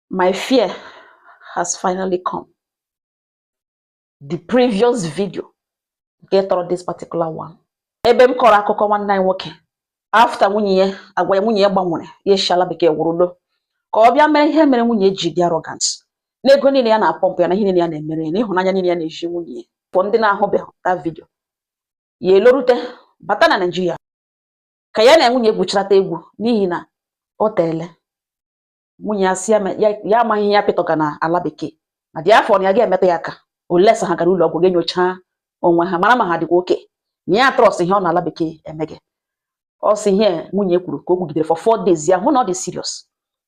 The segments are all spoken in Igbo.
My fear has finally come. The previous video nke tọrọ this particular one. Ebe m kọrọ akụkọ nwanne anyị nwoke after nwunye ya agwa ya nwunye ya gbanwere ya esi ala bekee wụrụ lọ ka ọ bịa mara ihe mere nwunye ji dị arrogant na ego niile ya na-apọmpụ ya na ihe niile ya na-emere ya na ịhụnanya niile ya na-ezi nwunye ya for ndị na-ahụbeghị that video ya elorute bata na Nigeria ka ya na nwunye gwuchirata egwu n'ihi na o teele nwunye ya sị ya amaghị ihe ya pịtọga na ala bekee na therefore na ya gaghị emetụ ya aka unless ha gara ụlọ ọgwụ ga nyocha onwe ha mara ma ha dịkwa okay na ya trust ihe ọ nọ ala bekee emega ọ sị ihe nwunye kwuru ka o kwugidere for four days ya hụ na ọ dị serious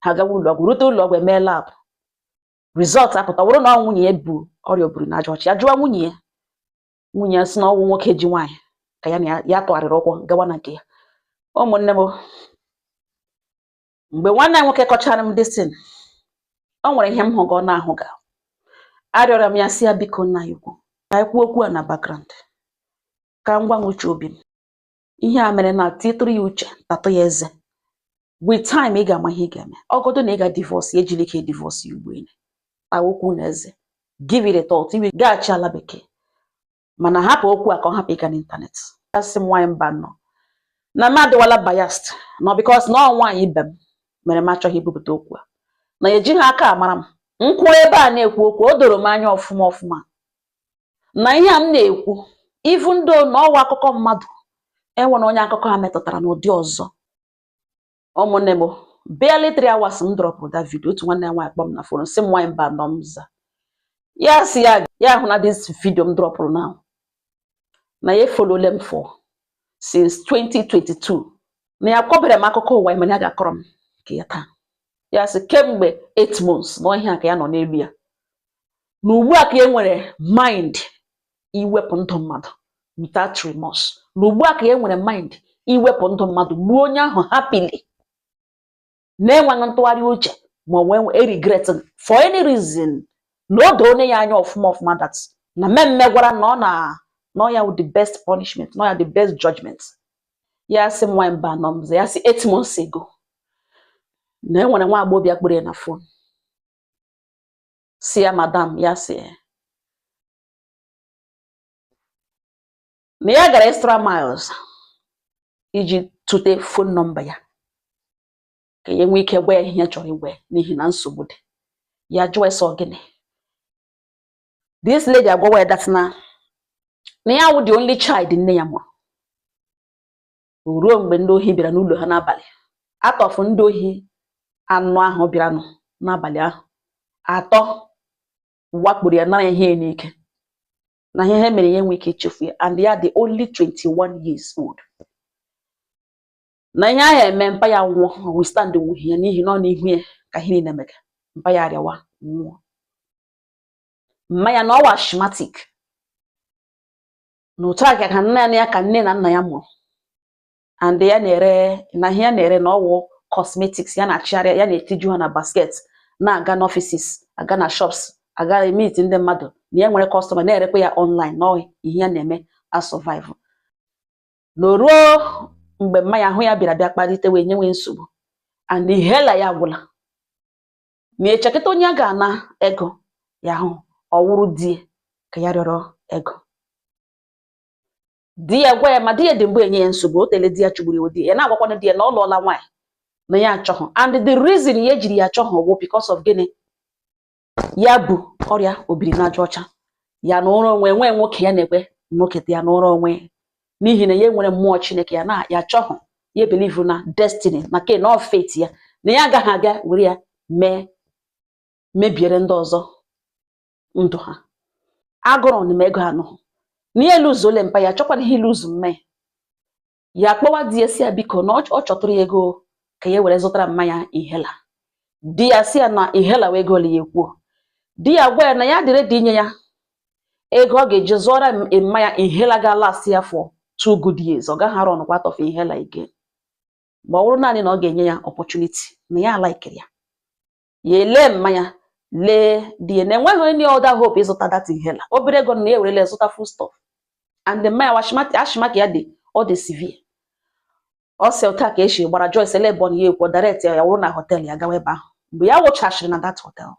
ha gawa ụlọ ọgwụ rute ụlọ ọgwụ emee lab result apụta wụrụ na nwunye ya bu ọrịa obiri na aja ọcha ya jụọ nwunye ya nwunye ya sị na ọnwụ nwoke ji nwaanyị ka ya na ya tụgharịrị ụkwụ gawa na nke ya ụmụnne m mgbe nwanne anyị nwoke kọchara m this thing o nwere ihe m hụga ọ na-ahụ ga arịọrọ m ya sị ya biko nna anyị ukwu ka anyị kwuo okwu a na background ka m gwa gị uche obi m ihe a mere na titụrụ ya uche tatụ ya eze with time ị ga-ama ihe ị ga-eme ọ godu na ị ga divorce ya ejila ike divorce ya ugbu a enyi tawa okwu na eze give it a thought even gaghachi ala bekee mana hapụ okwu a ka ọ hapụ ịga n'ịntanetị asị m nwaanyị Mbano na m adịwala biased na because na ọ nwaanyị ibe m mere m achọghị ibupụta okwu a na ejighị aka amara m kwụrụ ebe a na-ekwu okwu o doro m anya ọfụma ọfụma na ihe a m na-ekwu even though na ọ wụ akụkọ mmadụ enwere onye akụkọ a metụtara n'ụdị ọzọ ụmụnne m barely three hours m drọpụrụ that video otu nwanne anyị nwaanyị kpọọ m na fon sị m nwaanyị Mbano m za ya sị ya hụ na this video m drọpụrụ now na ya efolole m for since 2022 na ya kọbere m akụkọ ụwa ya mana ya ga-akọrọ m nke ya taa ya sị kemgbe 8 months na ihe a ka ya nọ n'elu ya na ugbu a ka ya nwere mind iwepụ ndụ mmadụ without remorse na ugbu a ka ya nwere mind iwepụ ndụ mmadụ gbuo onye ahụ happily na-enweghị ntụgharị uche ma ọ wụ regret for any reason na o doo onye ya anya ọfụma ọfụma that na mme mmegwara na ọ na na ọ ya the best punishment na ọ ya the best judgment ya sị m nwaanyị Mbano m za ya sị eight months ago na enwere nwa agbọghọbịa kpọrọ ya na fon sị ya madam ya sị na ya gara extra miles iji tụte phone number ya ka ya nwee ike gwa ya ihe ya chọrọ ịgwa ya n'ihi na nsogbu dị ya jụọ ya sị gịnị this lady agwawa ya that na na ya wụ the only child nne ya mụrụ ruo mgbe ndị ohi bịara n'ụlọ ha n'abalị out of ndị ohi anọ ahụ bịaranụ n'abalị ahụ atọ wakporo ya nara ya ihe n'ike na ihe ha mere ya enwe ike ichefu ya and ya dị only 21 years old na ihe ahụ eme mpa ya nwụọ o withstand wuhi ya n'ihi na ọ n'ihu ya ka ihe niile mega mpa ya arịawa nwụọ mma ya na ọ wụ asthmatic na otu aka ka nne ya ka nne na nna ya mụrụ and ya na-ere na ihe ya na-ere na ọ wụ cosmetics ya na-achịgharị ya na-etiju ha na basket na-aga n'offices aga na shops aga emeet ndị mmadụ na ya nwere customer na-erekwa ya online na ihe ya na-eme a survive na ruo mgbe mma ya ahụ ya bịara bịa kpalite wee nyewe nsogbu and inhaler ya gwụla ma echekịta onye ya ga-ana ego ya hụ ọ wụrụ di ya ka ya rịọrọ ego di ya gwa ya ma di ya dị mbụ enye ya nsogbu o teela di ya chụgburu di ya na-agwakwana di ya na ọ lụọla nwaanyị na ya achọghị and the reason ya ejiri ya achọghị wụ because of gịnị ya bu ọrịa obiri n'aja ọcha ya na-anọrọ onwe nwee nwoke ya na-ekwe nwoke ya na-anọrọ onwe n'ihi na ya nwere mmụọ chineke ya na ya achọghị ya believe na destiny nakwa na fate ya na ya agaghị aga were ya mebiere ndị ọzọ ndụ ha agụrụ na ego anọ na ya eluzuole mpa ya achọkwanahị iluzu mma ya ya kpọwa di ya sị ya biko na ọ chọtụrụ ya ego ka ya were zụtara mma ya inhaler di ya sị ya na inhaler wụ ego ole ya ekwuo di ya gwa ya na ya dị ready inye ya ego ọ ga-eji zụọra mma ya inhaler ga-alast ya for two good years ọ gaghị arunkwa out of inhaler again ma ọ bụrụ naanị na ọ ga-enye ya opportunity na ya alaikiri ya ya elee mma ya lee di ya na enweghị any other hope ịzụta that inhaler obere ego na ya ewerele zụta food stuff and mma ya asthmatic ya dị ọ dị severe ọ sị otu a ka esi gbara Joyce ele ebe ọ na ya ekwu direct ya wụrụ na hotel ya gawa ebe ahụ mgbe ya wụchachiri na that hotel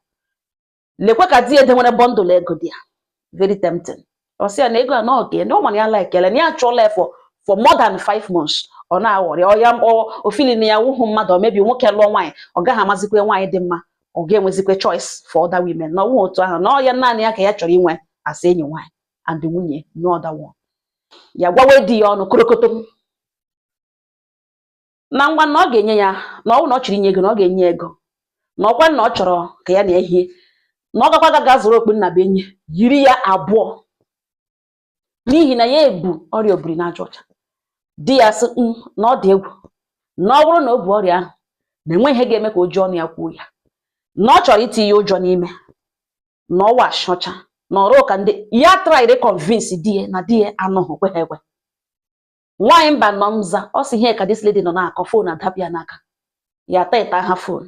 lekwa ka di ya dewere bundle ego dị ya very tempting ọ sị ya na ego a na ọ nke ya na ọ ma na ya laikele na ya achọla ya for for more than five months ọ na-aghọrị ọ ya ọ- o feel na ya wụhụ mmadụ or maybe nwoke lụọ nwaanyị ọ gaghị amazikwa nwaanyị dị mma ọ ga-enwezikwa choice for other women na ọ wụhụ otu ahụ na ọ ya naanị ya ka ya chọrọ inwe as enyi nwaanyị and nwunye no other one ya gwawe di ya ọnụ korokotom na ngwa na ọ ga-enye ya na ọnwụ na ọ chọrọ inye ego na ọ ga-enye ego na ọkwa na ọ chọrọ ka ya na ehie na ọ gakwa gaga zụrụ okpu nnabuenyi yiri ya abụọ n'ihi na ya ebu ọrịa obiri n'aja ọcha di ya sị "Mm, na ọ dị egwu na ọ bụrụ na o bu ọrịa ahụ na enweghị ihe ga-eme ka o ji ọnụ ya kwuo ya na ọ chọrọ itinye ụjọ n'ime na ọ wụ asị ọcha na ọrụ ka ndị ya traịrị kọnvinsi di ya na di ya anụghị kwe ha ekwe nwaanyị mba nọ mza ọ sị ihe ka this lady nọ na-akọ fon adapụ ya n'aka ya teta ha fon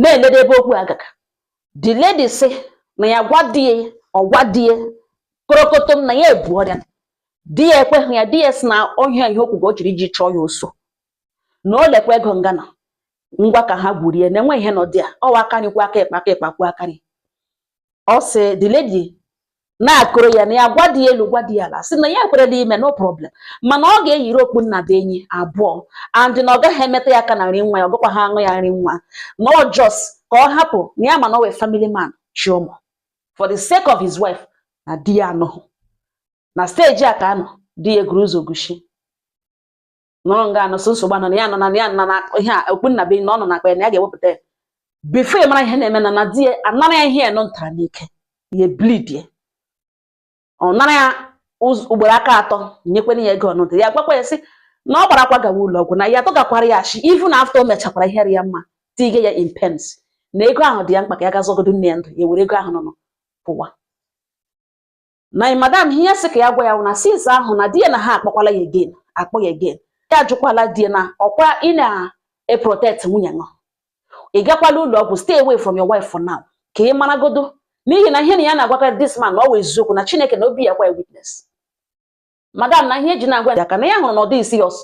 na-elede ebe okwu agaga the lady sị na ya gwa di ya ọ gwa di ya korokotom na ya ebu ọrịa di ya ekweghị ya di ya sị na ọ wụ ihe o kwugo o jiri iji chụọ ya ọsọ na o lekwa ego nga na ngwa ka ha gwurie na enweghị ihe nọ dị ya ọ wụ aka nri kwọọ aka ịkpa aka ịkpa kwọọ aka nri ọ sị the lady na-akọrọ ya na ya gwa di ya elu gwa di ya ala sị na ya ekwerela ime no problem mana ọ ga-eyiri okpu nnabuenyi abụọ and na ọ gaghị emeta ya aka na nri nwa ya ọ gakwaha aṅụ ya nri nwa na ọ just ka ọ hapụ na ya ma na ọ wụ a family man chị ụmụ for the sake of his wife na di ya anụghị na steji a ka a nọ di ya eguru ụzọ gushi nọrọ nga anọ so nsogbu a nọ na ya nọ na ya nọ na ihe a okpu nnabuenyi na ọ nọ na akpa ya na ya ga-ewepụta ya before ya mara ihe na-eme na na di ya anara ya ihe ya nọ ntara n'ike ya bleed ya ọ nara ya ụz- ugboro aka atọ nyekwara ya ego ọnụdụ ya gwakwa ya sị na ọ gbarakwa gawa ụlọ ọgwụ na ya atụghakwara ya asị even after o mechakwara ihe ya mma tige ya in pains na ego ahụ dị ya mkpa ka ya ga zọgodo nne ya ndụ ya were ego ahụ nọ nọ pụwa na madam ihe ya sị ka ya gwa ya na since ahụ na di ya na ha akpọkwala ya again akpọ ya again ya ajụkwala di ya na ọkwa ị na-eprotect nwunye nọ ị gakwala ụlọ ọgwụ stay away from your wife for now ka ị maragodo n'ihi na ihe na ya na-agwakwa this man na ọ wụ eziokwu na Chineke na obi ya kwa witness madam na ihe eji na-agwa ya ka na ya hụrụ na ọ dịghị serious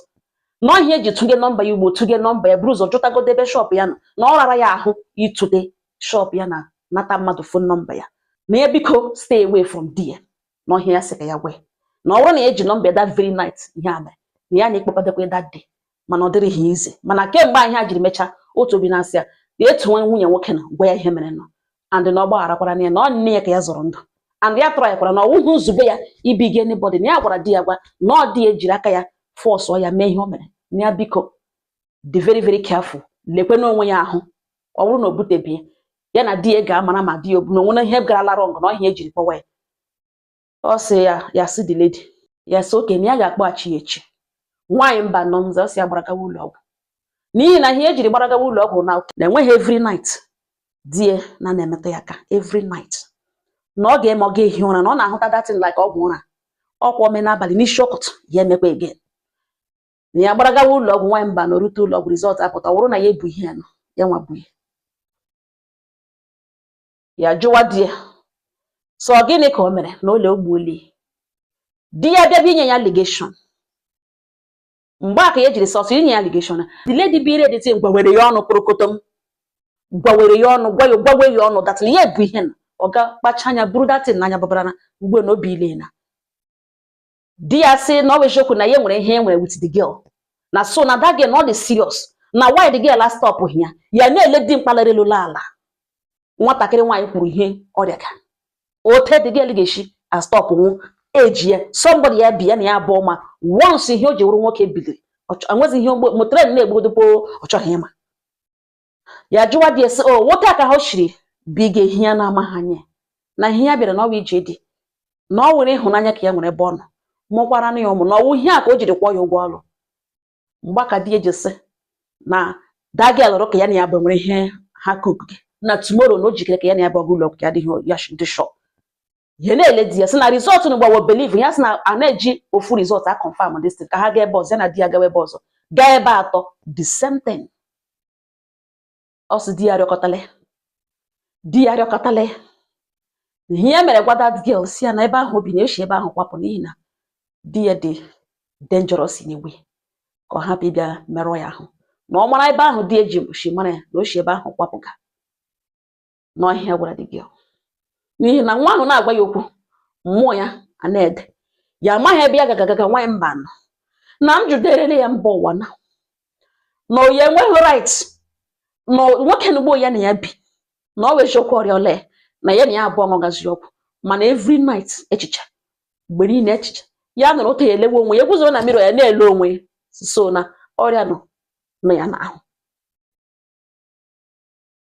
na ọ ihe eji tụnye nọmba ya ugbo tụnye nọmba ya buru ụzọ jụtagodo ebe shọpụ ya nọ na ọ rara ya ahụ ịtụte shọpụ ya na nata mmadụ fon nọmba ya na ya biko stay away from there na ọ ihe ya sị ka ya gwa ya na ọ bụrụ na ya eji nọmba ya that very night ihe a mere na ya na-ekpekọdekwa that day mana ọ dịrịghị easy mana kemgbe ahụ ha jiri mechaa otu obi na-asị ya na etu nwa nwunye nwoke na gwa ya ihe mere nụ and na ọ gbagharakwara na ya na ọ nne ya ka ya zọrọ ndụ and ya tụrụ ya kwara na ọ wụghị nzube ya ibige anybody na ya gwara di ya gwa na ọ di ya jiri aka ya fọsụọ ya mee ihe o mere na ya biko dị very very careful lekwe n'onwe ya ahụ ọ bụrụ na o butebeghị ya na di ya ga-amara ma di ya o bu na o nwere ihe garala wrong na ọ ihe ejiri kpọwa ya ọ sị ya sị the lady ya sị okay na ya ga-akpọghachi ya echi nwaanyị mbanọ m za ọ sị ya gbara gawa ụlọ ọgwụ n'ihi na ihe e jiri gbara gawa ụlọ ọgwụ na enweghị every night di ya na na-emetụ ya aka every night na ọ ga-eme ọ ga-ehi ụra na ọ na-ahụta that thing like ọgwụ ụra ọ kwa o mee n'abalị n'isi ụtụtụ ya emekwa again na ya gbara gawa ụlọ ọgwụ nwaanyị mbanọ erute ụlọ ọgwụ result apụta ọ bụrụ na ya ebu ihe a na ya nwa bu ihe ya jụwa di ya so gịnị ka o mere na ụlọ ogbuoli di ya bịa inye ya allegation mgbe a ka ya jiri sọsọ inye ya allegation the lady bịa iredite gwawere ya ọnụ kporokotom gwawere ya ọnụ gwawe ya ọnụ that thing ya bu ihe na ọ ga kpacha anya buru that thing n'anya babara na mgbe na obi ile na di ya sị na ọ bụ eziokwu na ya nwere ihe e nwere with the girl na so na that girl na ọ dị serious na why the girl a stopghị ya ya na-ele di mkpalere lụrụ ala nwatakịrị nwaanyị kwuru ihe ọrịa ka o te the girl ga-esi a stop nwụ eji ya somebody ya bi ya na ya abụọ ma once ihe o ji wụrụ nwoke biliri enwezi ihe ma train na-egbugodu opi ọ chọghị ịma ya jụwa di ya so ọ wụ otu a ka ha shiri bi ga ehi ya na-amaghị anya na ihe ya bịara na ọ wụ ije di na ọ wụrụ ịhụnanya ka ya nwere ebe ọ nọ mụkwara na ya ụmụ na ọ wụ ihe a ka o jiri kwụọ ya ụgwọ ọrụ mgbe a ka di ya ji sị na that girl alụrụ ka ya na ya abụọ nwere ihe ha kuku na tomorrow na o jikere ka ya na ya abụọ gaa ụlọ ọgwụ ya adịghị ya dị sure ya na-ele di ya sị na result na gbawo believe ya sị na a na-eji ofu result a confirm this ka ha gaa ebe ọzọ ya na di ya gawa ebe ọzọ gaa ebe atọ the same thing ọ sị di ya rịọkọtale di ya rịọkọtale ihe ya mere gwa that girl sị ya na ebe ahụ o bi na-eshi ebe ahụ kwapụ n'ihi na di ya dị dangerous in a way ka ọ hapụ ịbịa merụọ ya ahụ na ọ mara ebe ahụ di ya ji shi mara ya na o shi ebe ahụ kwapụga na ọ ihe a ya gwara the girl n'ihi na nwa ahụ na-agwa ya okwu mmụọ ya a na-ede ya amaghị ebe ya ga-agaga nwaanyị mbanọ na m jụderere ya mba ụwa na na ya enweghị right na nwoke na ugbu a ya na ya bi na ọ wụ eziokwu ọrịa ole na ya na ya abụọ ṅụgazi ọgwụ mana every night echiche mgbe niile echiche ya nọrọ otu ya elewe onwe ya guzoro na mirror ya na-ele onwe ya so na ọrịa nọ ya n'ahụ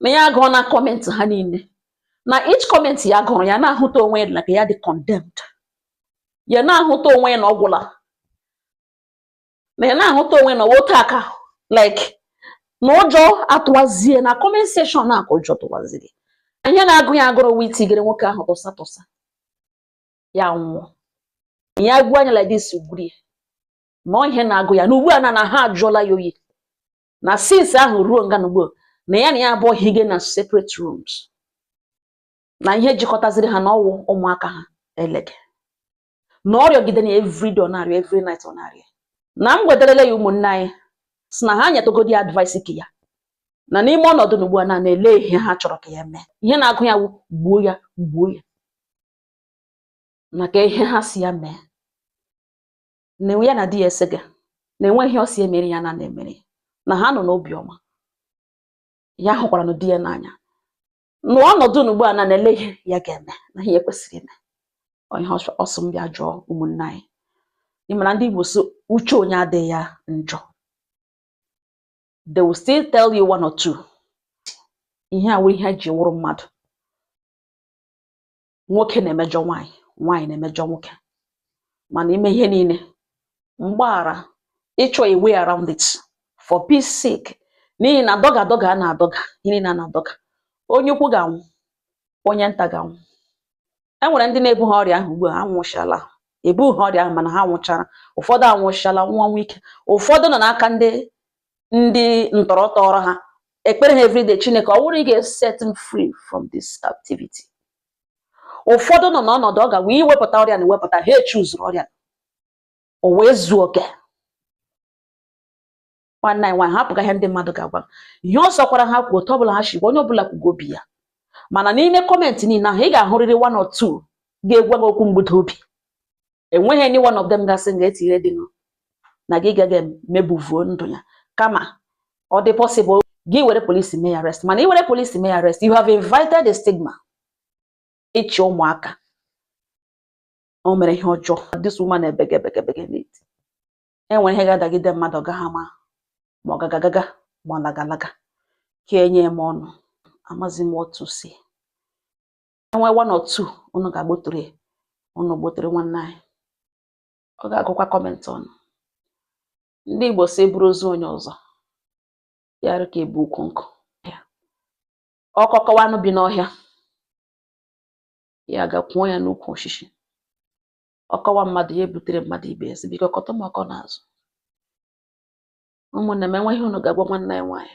na ya agụọ na comment ha niile na each comment ya gụrụ ya na-ahụta onwe ya like ya dị condemned ya na-ahụta onwe ya na ọ gwụla na ya na-ahụta onwe na otu a ka like na ụjọ atụwazie na comment section na aka ụjọ tụwaziri ihe na-agụ ya agụrụ wee tinyere nwoke ahụ tụsa tụsa ya nwụọ ya gbuo onwe ya like this gwurie ma ihe na-agụ ya na ugbu a na ahụ ajụọla ya oyi na since ahụ ruo nga n'ugbu a na ya na ya abụọ hige na separate rooms na ihe jikọtaziri ha na ọ wụ ụmụaka ha elege na ọ rịọgide na everyday ọ na-arịọ every night ọ na-arịọ na m gwetarala ya ụmụnne anyị si na ha nyetụgodi advice ka ya na n'ime ọnọdụ n'ugbu a na elee ihe ha chọrọ ka ya mee ihe na-agụ ya wụ gbuo ya gbuo ya maka ihe ha si ya mee na ya na di ya esega na enweghị ihe ọ si emere ya na na-emere ya na ha nọ n'obi ọma ya hụkwara na di ya n'anya n'ọnọdụ n'ugbu a na elee ihe ya ga-eme na ihe kwesịrị ime ihe ọ sị m bịa jụọ ụmụnne anyị ị mara ndị Igbo sị uche onye adịghị ya njọ they will still tell you one or two ihe a wụ ihe e ji wụrụ mmadụ nwoke na-emejọ nwaanyị nwaanyị na-emejọ nwoke mana ime ihe niile mgbaghara ịchọ a way around it for peace sake n'ihi na dọga dọga a na-adọga ihe niile a na-adọga onye ukwu ga-anwụ onye nta ga-anwụ e nwere ndị na-ebughị ọrịa ahụ ugbu a anwụchala ebughị ọrịa ahụ mana ha nwụchara ụfọdụ anwụchala ọnwụ ike ụfọdụ nọ n'aka ndị ndị ntọrọ tọọrọ ha ekpere ha everyday chineke ọ wụrụ ị ga-set m free from this captivity ụfọdụ nọ n'ọnọdụ ọ ga wee iwepụta ọrịa na iwepụta ha echuzuru ọrịa o wee zuo oke nwanne anyị nwaanyị hapụga ihe ndị mmadụ ga-agwa ihe ọ sọkwara ha kwuo otu ọbụla ha shi gwa onye ọbụla kwugo obi ya mana n'ime kọmentị niile ahụ ị ga-ahụrịrị one or two ga-egwa gị okwu mbuda obi enweghị any one of them ga-asị nga etinye dị nụ na gị gaghị mebuvuo ndụ ya kama ọ dị possible gị were polisi mee arrest mana ị were polisi mee arrest you have invited a stigma ị chị ụmụaka o mere ihe ọjọọ this woman ebege ebege ebege na-eti enwere ihe ga-adagide mmadụ ọ gaghị ama ma ọ gaga agaga ma ọ laga alaga ka enye m ọnụ amazi m otu si e nwee one or two unu ga-agbotere ya unu gbotere nwanne anyị ọ ga-agụkwa kọmentị unu ndị Igbo sị e buru ozu onye ọzọ ya dị ka e bu ukwu nkụ ọkọ kọwa anụ bi n'ọhịa ya gaa kwoo ya n'ukwu osisi ọ kọwa mmadụ ya ebutere mmadụ ibe ya sị biko kọtụ m ọkọ n'azụ ụmụnne m e nwee ihe unu ga-agwa nwanne anyị nwaanyị